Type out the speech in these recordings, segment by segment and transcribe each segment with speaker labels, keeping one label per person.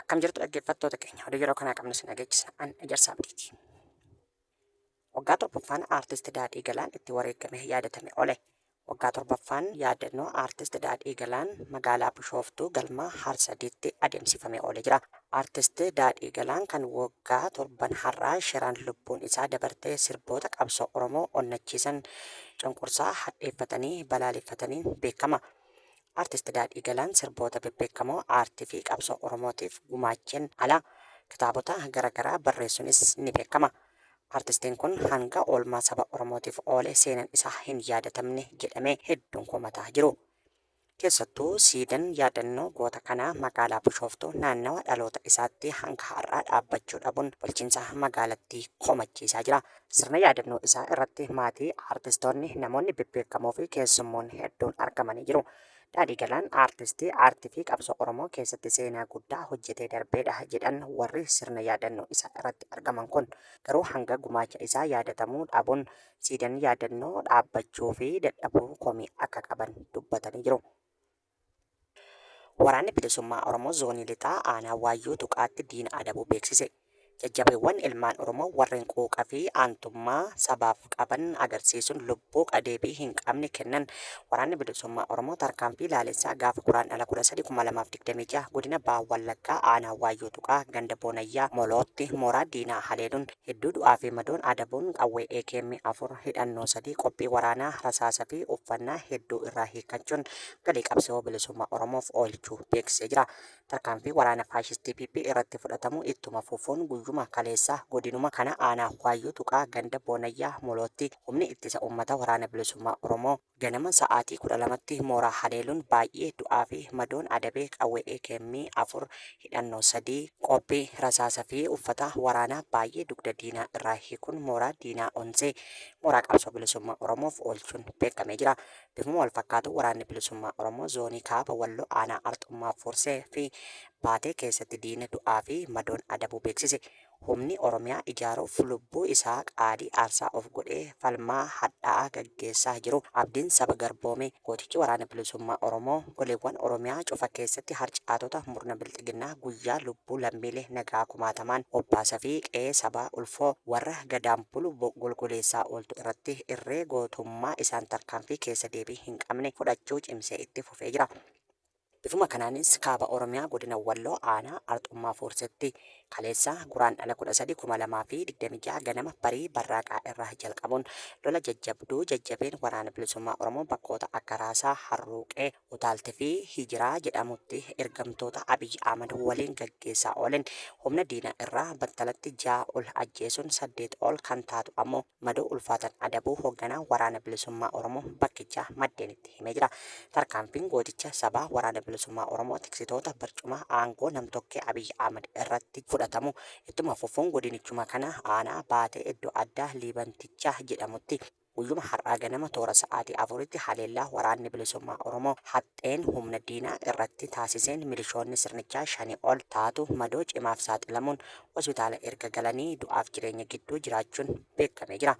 Speaker 1: Akkam jirtu dhaggeeffattoota keenya oduu yeroo kanaa qabnu sin dhageechisa an ijarsa abdiiti. Waggaa torbaffaan aartist Daadhii Galaan itti wareegame yaadatame ole. Waggaa torbaffaan yaadannoo aartist Daadhii Galaan magaalaa Bishooftuu galma Harsadiitti adeemsifame oole jira. Artist Daadhii Galaan kan woggaa torban har'aa shiraan lubbuun isaa dabartee sirboota qabsoo Oromoo onnachiisan cunqursaa hadheeffatanii balaaleffataniin beekkama. Artist Daadhii Galaan sirboota bebbeekkamoo aartii fi qabsoo Oromootiif gumaacheen ala kitaabota gara garaa barreessunis ni beekkama. Artistiin kun hanga oolmaa saba Oromootiif oole seenan isaa hin yaadatamne jedhamee hedduun komataa jiru. Keessattuu siidan yaadannoo goota kanaa magaalaa Bushooftuu naannawa dhaloota isaatti hanga har'aa dhaabbachuu dhabuun bulchiinsa magaalattii komachiisaa jira. Sirna yaadannoo isaa irratti maatii, aartistoonni, namoonni bebbeekamoo fi keessummoonni hedduun argamanii jiru. Daadhii Galaan aartistii aartii fi qabsoo Oromoo keessatti seenaa guddaa hojjetee darbeedha jedhan warri sirna yaadannoo isaa irratti argaman kun. Garuu hanga gumaacha isaa yaadatamuu dhabuun siidan yaadannoo dhaabbachuu fi dadhabuu komii akka qaban dubbatanii jiru. Waraanni Bilisummaa Oromoo Zoonii Lixaa Aanaa Waayyuu Tuqaatti diina adabuu beeksise. Jajjabeewwan ilmaan Oromoo warreen quuqa fi aantummaa sabaaf qaban agarsiisuun lubbuu qadeebii hin qabne kennan Waraanni Bilisummaa Oromoo tarkaanfii laalessaa gaafa Guraandhala 13/2026 godina Baha Wallaggaa Aanaa Waayyuu Tuqaa ganda Boonayyaa Molootti mooraa diinaa haleeluun hedduu du'aa fi madoon adabuun qawwee akm 4, hidhannoo 3, qophii waraanaa, rasaasa fi uffannaa hedduu irraa hiikkachuun galii qabsawoo bilisummaa Oromoof oolchuu beeksisee jira. Tarkaanfii waraana faashistii PP irratti fudhatamu ittuma fufuun guyyuma kaleessaa godinuma kana aanaa Waayyuu Tuqaa ganda Boonayyaa Molootti humni ittisa ummata waraana bilisummaa Oromoo, Ganama sa'aatii 12tti mooraa haleeluun baay'ee du'aa fi madoon adabee qawwee akm 4, hidhannoo 3, qophii rasaasa fi uffata waraanaa baay'ee dugda diinaa irraa hiikuun mooraa diinaa onsee mooraa qabsoo bilisummaa Oromoof oolchuun beekamee jira. Bifuma wal fakkaatuun waraanni bilisummaa Oromoo zoonii kaaba Walloo aanaa Arxummaa Fuursee fi Baatee keessatti diina du'aa fi madoon adabuu beeksise. Humni Oromiyaa ijaaruuf lubbuu isaa qaadii aarsaa of godhee falmaa hadhaa'aa gaggeessaa jiru. Abdiin saba garboome. Gootichi Waraana Bilisummaa Oromoo goleewwan Oromiyaa cufa keessatti harcaatota murna bilxiginnaa guyyaa lubbuu lammiilee nagaa kumaatamaan obbaasafi qe'ee sabaa ulfoo warra Gadaan bulu golgoleessaa ooltu irratti irree gootummaa isaan tarkaanfii keessa deebii hin qabne fudhachuu cimsee itti fufee jira. Bifuma kanaanis Kaaba Oromiyaa Godina Walloo Aanaa Arxummaa Fuurseetti kaleessa Guraandhala 13, 2026 ganama barii barraaqaa irraa jalqabuun lola jajjabduu jajjabeen Waraanni Bilisummaa Oromoo bakkoota akka Raasaa, Harruuqee, Utaalti fi Hijiraa jedhamutti ergamtoota Abiy Ahmad waliin gaggeessaa oolen humna diinaa irraa battalatti 6 ol ajjeesuun 8 ol kan taatu ammoo madoo ulfaatan adabuu hogganaan Waraana Bilisummaa Oromoo bakkichaa maddeenitti himee jira. Tarkaanfiin gooticha sabaa Waraana Bilisummaa Oromoo tiksitoota barcumaa aangoo nam-tokkee Abiy Ahmad irratti fudhatamu ittuma fufuun godinichuma kana aanaa Baatee iddo addaa Liibantichaa jedhamutti guyyuma har'aa ganama toora sa'aatii 4tti haleellaa Waraanni Bilisummaa Oromoo haxxeen humna diinaa irratti taasiseen milishoonni sirnichaa 5 ol taatu madoo cimaaf saaxilamuun hospitaala erga galanii du'aaf jireenya gidduu jiraachuun beekamee jira.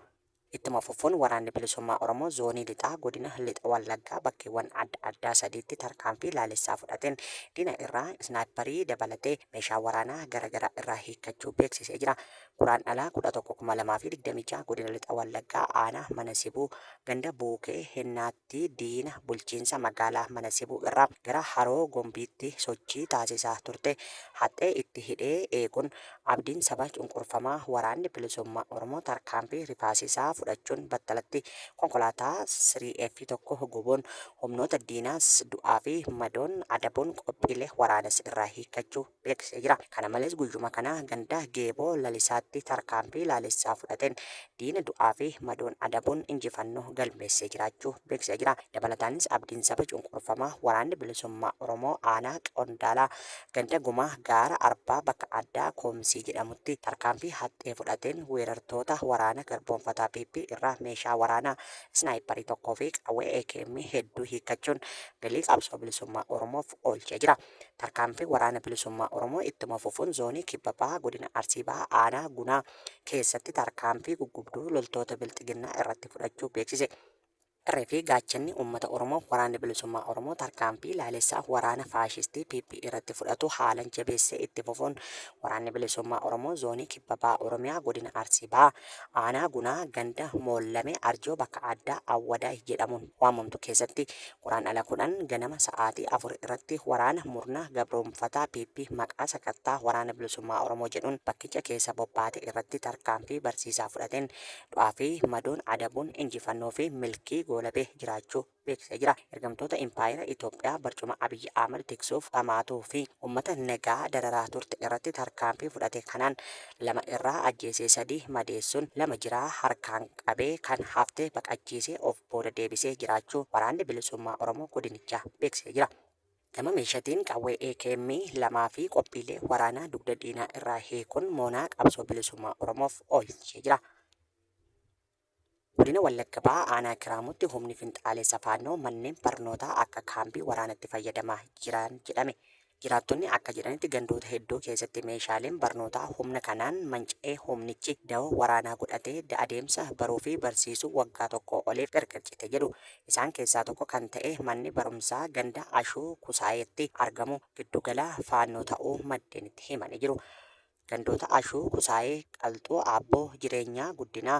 Speaker 1: Ittuma fufuun Waraanni Bilisummaa Oromoo Zoonii Lixaa Godina Lixa Wallaggaa bakkeewwan adda addaa sadiitti tarkaanfii laalessaa fudhateen diina irraa Isnaayipparii dabalatee meeshaa waraanaa gara garaa irraa hiikkachuu beeksisee jira. Guraandhala 11,2026 Godina Lixa Wallaggaa Aanaa Mana Sibuu ganda Buukee Hennaatti diina bulchiinsa magaalaa Mana Sibuu irraa gara Haroo Gombiitti sochii taasisaa turte haxxee itti hidhee eeguun abdiin saba cunqurfamaa Waraanni Bilisummaa Oromoo tarkaanfii rifaasisaa fudhachuun battalatti konkolaataa 3F 1 gubuun humnoota diinaas du'aa fi madoon adabuun qophiilee waraanaas irraa hiikkachuu beeksisee jira. Kana malees guyyuma kana ganda Geeboo Lalisaatti tarkaanfii laalessaa fudhateen diina du'aa fi madoon adabuun injifannoo galmeessee jiraachuu beeksisee jira. Dabalataanis abdiin saba cunqurfamaa Waraanni Bilisummaa Oromoo aanaa Qondaalaa ganda Gumaa gaara Arbaa bakka addaa Koomsii jedhamutti tarkaanfii haxxee fudhateen weerartoota waraana garboomfataa PP irraa meeshaa waraanaa Isnaayipparii tokkoo fi qawwee AKM hedduu hiikkachuun galii qabsoo bilisummaa Oromoof oolchee jira. Tarkaanfii Waraana Bilisummaa Oromoo ittuma fufuun Zoonii Kibba Bahaa Godina Arsii Bahaa Aanaa Gunaa keessatti tarkaanfii guggubduu loltoota Bilxiginnaa irratti fudhachuu beeksise. Irree fi gaachanni uummata Oromoo Waraanni Bilisummaa Oromoo tarkaanfii laalessaa waraana faashistii PP irratti fudhatu haalan jabeessee itti fufuun Waraanni Bilisummaa Oromoo Zoonii Kibba Bahaa Oromiyaa Godina Arsii Bahaa Aanaa Gunaa ganda Moollamee Arjoo bakka addaa Awwadaay jedhamuun waamamtu keessatti Guraandhala 10 ganama sa'aatii 4 irratti waraana murna gabroomfataa PP maqaa sakattaa Waraana Bilisummaa Oromoo jedhuun bakkicha keessa bobbaate irratti tarkaanfii barsiisaa fudhateen du'aa fi madoon adabuun injifannoo fi milkii goolabee jiraachuu beeksisee jira. Ergamtoota Impaayera Itoophiyaa barcuma Abiy Ahmad tiksuuf dhamaatuu fi uummata nagaa dararaa turte irratti tarkaanfii fudhate kanaan lama irraa ajjeesee sadii madeessuun lama jiraa harkaan qabee kan hafte baqachiisee of booda deebisee jiraachuu Waraanni Bilisummaa Oromoo godinichaa beeksisee jira. Gama meeshatiin qawwee AKM 2 fi qophiilee waraanaa dugda diinaa irraa hiikuun moonaa qabsoo bilisummaa Oromoof oolchee jira. Godina Wallagga Bahaa Aanaa Kiraamuutti humni finxaaleessa Faannoo manneen barnootaa akka kaambii waraanaatti fayyadamaa jiran jedhame. Jiraattonni akka jedhanitti gandoota hedduu keessatti meeshaaleen barnootaa humna kanaan manca'ee humnichi dawoo waraanaa godhatee adeemsa baruu fi barsiisuu waggaa tokkoo oliif gargar cite jedhu. Isaan keessaa tokko kan ta'e manni barumsaa ganda Ashuu Kusaayeetti argamu giddu gala Faannoo ta'uu maddeen itti himanii jiru. Gandoota Ashuu, Kusaayee, Qalxuu, Aabboo, Jireenyaa, Guddinaa,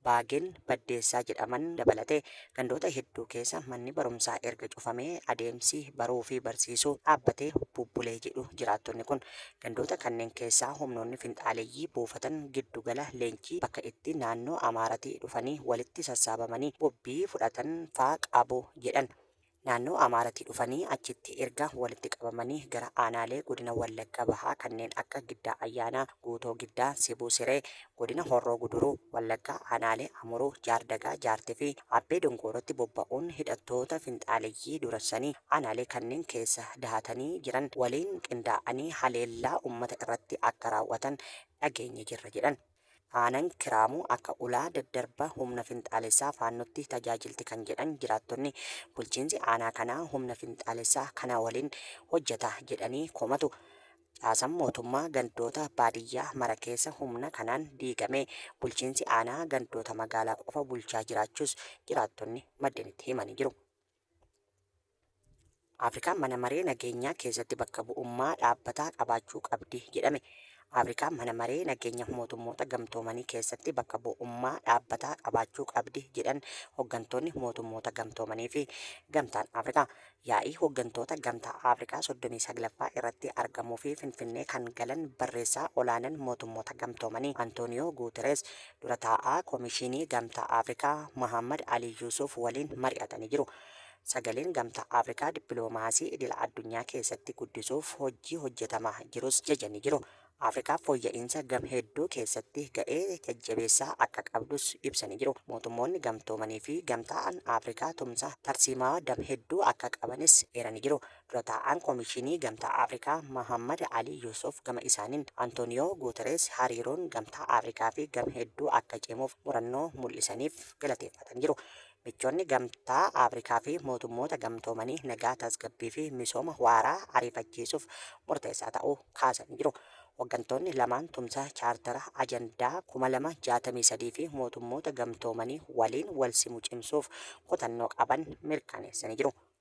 Speaker 1: Baagin, Baddeessaa jedhaman dabalatee gandoota hedduu keessa manni barumsaa erga cufamee adeemsi baruu fi barsiisuu dhaabbatee bubbulee jedhu jiraattonni kun. Gandoota kanneen keessaa humnoonni finxaaleyyii buufatan giddu gala leenjii bakka itti naannoo Amaaratii dhufanii walitti sassaabamanii bobbii fudhatan faa qabu jedhan. Naannoo Amaaratii dhufanii achitti erga walitti qabamanii gara aanaalee godina Wallagga Bahaa kanneen akka Giddaa Ayyaanaa, Guutoo Giddaa, Sibuu Siree, godina Horroo Guduruu Wallaggaa aanaalee Amuruu, Jaardagaa, Jaartii fi Abbee Dongoorootti bobba'uun hidhattoota finxaaleyyii durasanii aanaalee kanneen keessa dahatanii jiran waliin qindaa'anii haleellaa uummata irratti akka raawwatan dhageenye jirra jedhan. Aanaan Kiraamuu akka ulaa daddarba humna finxaalessaa Faannootti tajaajilti kan jedhan jiraattonni, bulchiinsi aanaa kanaa humna finxaalessaa kana waliin hojjeta jedhanii komatu. Caasaan mootummaa gandoota baadiyyaa mara keessa humna kanaan diigamee bulchiinsi aanaa gandoota magaalaa qofa bulchaa jiraachuus jiraattonni maddeen itti himanii jiru. Afrikaan mana maree nageenyaa keessatti bakka bu'ummaa dhaabbataa qabaachuu qabdi jedhame. Afrikaan mana maree nageenya mootummoota gamtoomanii keessatti bakka bu'ummaa dhaabbataa qabaachuu qabdi jedhan hooggantoonni mootummoota gamtoomanii fi gamtaan Afrikaa. Yaa'ii hooggantoota gamtaa Afrikaa 39ffaa irratti argamuu fi Finfinnee kan galan barreessaa olaanaan mootummoota gamtoomanii Antooniyoo Guuterees Dura taa'aa Komishiinii Gamtaa Afrikaa Mohaammad Alii Yuusuuf waliin mari'atanii jiru. Sagaleen Gamtaa Afrikaa dippilomaasii idila addunyaa keessatti guddisuuf hojjii hojjetamaa jirus jajanii jiru. Afrikaa fooyya'iinsa gam hedduu keessatti ga'ee jajjabeessaa akka qabdus ibsanii jiru. Mootummoonni Gamtoomanii fi Gamtaan Afrikaa tumsa tarsiimawaa dam hedduu akka qabanis eeranii jiru. Dura taa'aan Komishinii Gamtaa Afrikaa Mahaammad Alii Yuusuf gama isaaniin, Antooniyoo Guutereez hariiroon Gamtaa Afrikaa fi gam hedduu akka cimuuf murannoo mul'isaniif galateeffataniiru. Michoonni Gamtaa Afrikaa fi Mootummoota Gamtoomanii nagaa, tasgabbii fi misooma waaraa ariifachiisuuf murteessaa ta'uu kaasaniiru. Hoggantoonni lamaan tumsa Chaartara Ajandaa 2063 fi Mootummoota Gamtoomanii waliin walsimu cimsuuf kutannoo qaban mirkaneessaniiru.